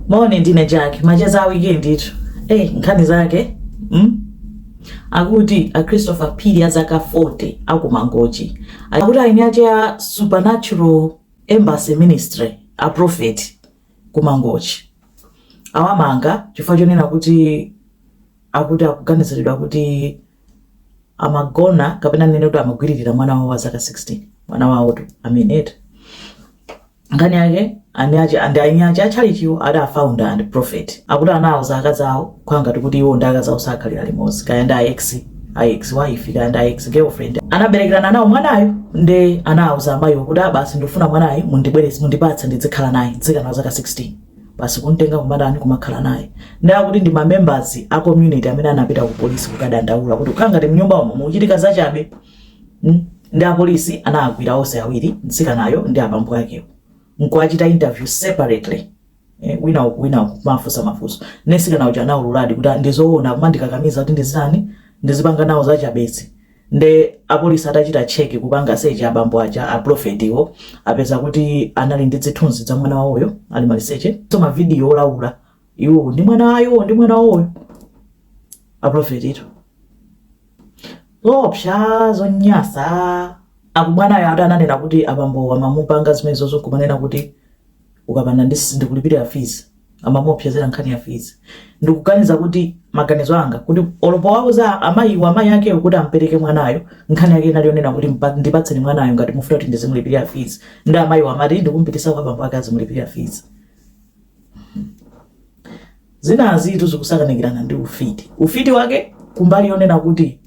moni ndine jack macheza a weekend itu eyi nkhani zake akuti a christopher phiri a zaka 40 akumangochi akuti eni ake a supernatural embassy ministry a prophet kumangochi awamanga chifukwa chonena kuti akuti akuganiziridwa kuti amagona kapena ndinene kuti amagwiririra mwana wawo wa zaka 16 mwana wawotu amenetu nkhani yake ndi ya inayake a tchalitchiwo ati afounder and prophet akuti anawauza akazi awo kukhala ngati kuti iwo ndi akazi awo sakhalira limodzi kaya ndi ex ex wife kaya ndi ex girlfriend anaberekerana nawo mwanayo nde anawauza amayiwo kuti ah basi ndikufuna mwanayu mundibweretse mundipatse ndidzikhala naye mtsikana wa zaka 16 basi kumtenga kumatani kumakhala naye nde akuti ndi mamembers a community amene anapita ku polisi kukadandaula kuti kukhala ngati mnyumba umo mukuchitika zachabe mm? nde apolisi anagwira onse awiri mtsikanayo ndi abambo akewo nkuwachita interview separately eh, wina uku wina uku kuwafunsa mafunso nde mtsikana uja anaululadi kuti "Ah, ndizoona amandikakamiza kuti ndizitani ndizipanga nawo zachabezi Nde apolisi atachita check kupanga search abambo aja a prophet wo apeza kuti anali ndi zithunzi za mwana wawoyo ali maliseche komanso ma video olaula iwowo ndi mwana iwowo ndi mwana wawoyo a prophet tu zoopsa zonyasa akuti mwanayo ati ananena kuti abambo amamupanga zimenezozo kumanena kuti ukapanda sindikulipirira fees amamuopsezera nkhani ya fees ndikuganiza kuti maganizo anga kuti olo powauza amayiwa amayi akewo kuti ampereke mwanayo nkhani yake inali yonena kuti ndipatseni mwanayo ngati mukufuna kuti ndizimulipirira fees nde amayiwa amati ndikumpitisa kwa bambo ake azimulipirira fees Zinazitu zikusakanikirana ndi ufiti. Ufiti wake kumbali yonena kuti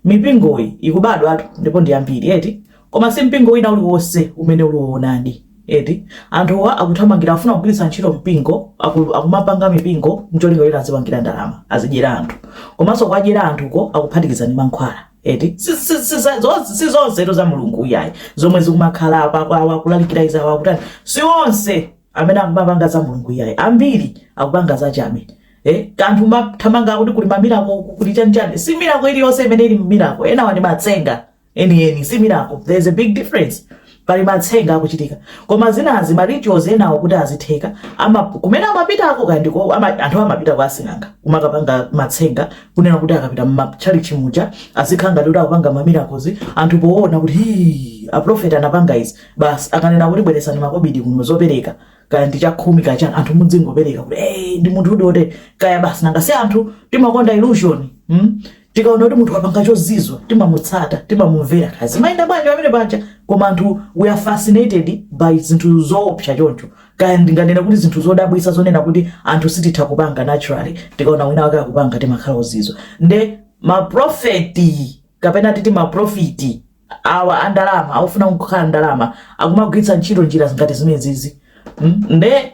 mipingoyi ikubadwatu ndipo ndi yambiri eti, koma si mpingo wina uliwonse umene uli woonadi eti. Anthuwa akuthamangira, akufuna kugwiritsa ntchito mpingo, akumapanga mipingo n'cholinga choti azipangira ndalama, azidyera anthu. Komanso kuwadyera anthuko akuphatikiza ndi mankhwala eti. Si zonsetu za Mulungu iyayi zomwe zikumakhala apa, awa akulalikira izi, awa akutani, si onse. amene akumapanga za mulungu iyayi ambiri akupanga za chabe Eh, anthu mumathamanga akuti kuli mamirako kuli chanchani si mirako iliyonse imene ili mirako enawa ndi matsenga enieni si mirako there is a big difference pali matsenga akuchitika koma zinazi ma rituals enawo kuti azitheka ama kumene amapitako kaya ndi kwa ama, anthu amapita kwa asing'anga kumakapanga matsenga kunena kuti akapita mmatchalitchi muja azikhala ngati kuti akupanga mamirakozi anthu poona kuti hii aprofeti anapanga izi basi akanena kuti bweretsani makobidi kuno zopereka kaya ndi chakhumi kaya chani anthu mudzingopereka kuti hey, ndi munthu udote kaya basi nanga si anthu timakonda illusion hmm? tikaona kuti munthu wapanga chozizwa timamutsata timamumvera kaya zimayenda bwanji pamene paja koma anthu we are fascinated by zinthu zoopsa choncho kaya ndinganena kuti zinthu zodabwisa zonena kuti anthu sititha kupanga naturally tikaona wina wake akupanga timakhala ozizwa nde maprofeti kapena titi maprofiti awa a ndalama akufuna kukhala ndalama akumagwiritsa ntchito njira ngati zimenezizi mm? nde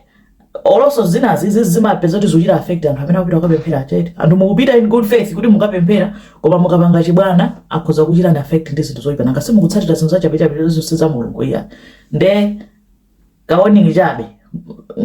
olonso zinazi izi zimapeza kuti zikuchita affect anthu amene akupita kukapemphera eti anthu mukupita in good faith kuti mukapemphera koma mukapanga chibwana akhoza kuchitani affect ndi zinthu zoyipa nanga simukutsatira zinthu zachabechabe zonse za mulungu iya nde kawarning chabe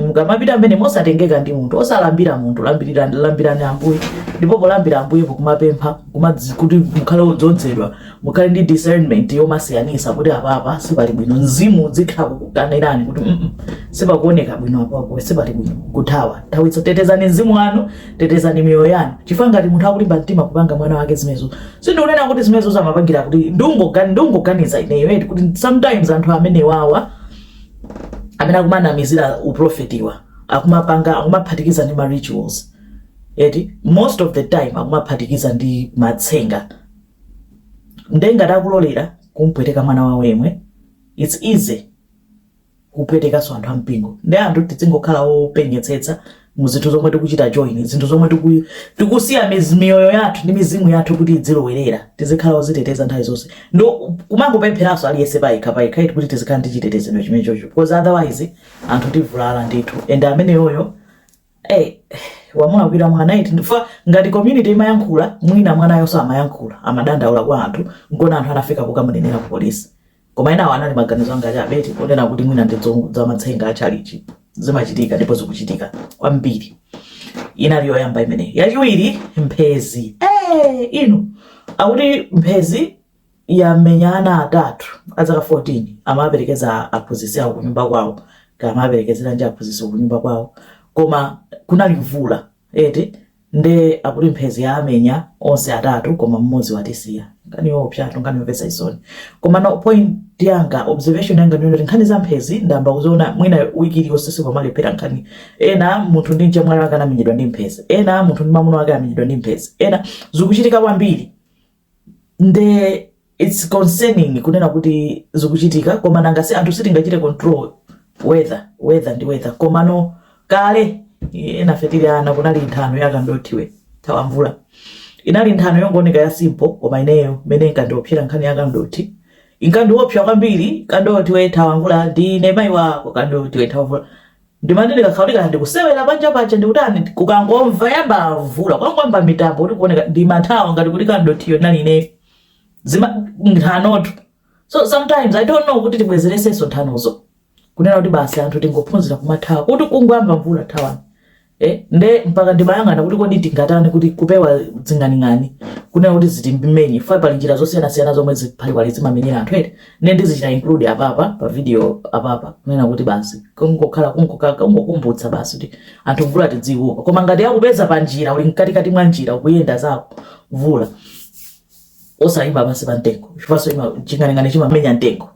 mukamapita mmene mosatengeka ndi munthu osalambira munthu lambirani lambirani ambuye ndipo polambira ambuye n'kumapempha kumadzi- kuti mukhale odzodzedwa mukhale ndi discernment yomasiyanitsa kuti apapa sipali bwino mzimu udzikhala kukukanirani kuti "Mm-mm, sipakuoneka bwino apapo sipali bwino kuthawa thawitso tetezani mzimu wanu tetezani miyoyo yanu chifukwa ngati munthu akulimba mtima kupanga mwana wake zimenezo Sindikunena kuti zimenezozo amapangira kuti ndungogani ndungoganiza ineyo eti kuti sometimes anthu amene wawa amene akumanamizira uprofetiwa akumapanga akumaphatikiza ndi ma rituals eti most of the time akumaphatikiza ndi matsenga nde ngati akulolera kumpweteka mwana wawo yemwe it's easy kupwetekanso anthu a mpingo nde anthu tidzingokhala openyetsetsa mu zinthu zomwe tikuchita join zinthu zomwe tiku, tikusiya miz- miyoyo yathu ndi mizimu yathu kuti idzilowerera tizikhala oziteteza nthawi zonse ndi kumangopempheranso aliyense payekha payekha eti kuti tizikhala ndi chitetezero chimenechocho because otherwise anthu tivulala ndithu and ameneyoyo Eh, wamulakwira mwana eti ndife ngati community timayankhula mwina mwanayo samayankhula amadandaula kwa anthu nkona anthu anafika kukamunenera ku polisi Koma enawo anali maganizo anga chabe, eti kunena kuti mwina ndi zamatsenga za tchalitchi. Zimachitika ndipo zikuchitika kwambiri. Inali yoyamba imeneyo. Yachiwiri, mphezi. Ee, inu akuti mphezi yamenya ana atatu a zaka 14 amawaperekeza aphunzitsi awo kunyumba kwawo kaya amawaperekezera ndi aphunzitsi kunyumba kwawo koma kunali mvula eti Nde akuti mphezi yawamenya onse atatu koma mmodzi watisiya. Nkhani yoopsatu, nkhani yomvetsa chisoni. Komano point yanga, observation yanga ndiyonena kuti nkhani za mphezi ndayamba kuziona mwina week iliyonse sikumalephera nkhani. Ena munthu ndi mchemwali wake anamenyedwa ndi mphezi. Ena munthu ndi mamuna wake amenyedwa ndi mphezi. Ena. Zikuchitika kwambiri. nde its concerning kunena kuti zikuchitika koma nanga si anthu sitingachite control weather weather ndi weather komano kale enafe tili ana kunali nthano yakandothiwe thawa mvula inali nthano yongooneka ya simple koma ineyo mene inkandiopsyera nkhani yakandothi inkandiopsa kwambiri kandothi wethawa mvula ndine mayi wako kandothi wethawa mvula Ndimati ndikakhala kuti kaya ndikusewera panja paja ndikutani ndikangomva yayamba mvula ndikangoona mitambo kuti kuoneka ndimathawa ngati kuti kandothiyo ndinali ineyo zima nthanotu so sometimes i don't know kuti tibwezeresenso nthanozo kunena kuti basi anthu tingophunzira kumathawa kuti kungoyamba mvula thawani eh, nde mpaka ndimayang'ana kuti kodi tingatani kuti kupewa zing'aning'ani kunena kuti zisatimenye chifukwa pali njira zosiyanasiyana zomwe ziphaliwali zimamenyera anthu eti nde ndizichita include apapa pa video apapa kunena kuti basi kungokhala kungokhala kungokumbutsa basi kuti anthu mvula tidziopa koma ngati yakupeza pa njira uli mkati kati mwa njira ukuyenda zako mvula osayima basi pa mtengo chifukwanso chima ching'aning'ani chimamenya mtengo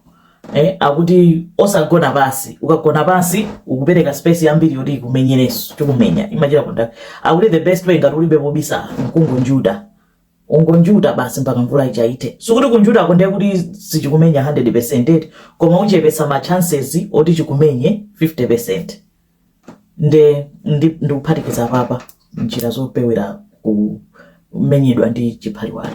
eh akuti osagona basi ukagona basi ukupereka space yambiri yoti ikumenyerenso chikumenya imachira kunda akuti the best way ngati ulibe pobisala nkungonjuta ungonjuta basi mpaka mvula ija ithe sikuti kunjutako ndiye kuti sichikumenya 100% eti koma uchepetsa ma chances oti chikumenye 50% nde ndi- ndikuphatikiza apapa njira zopewera kumenyedwa ndi chiphaliwali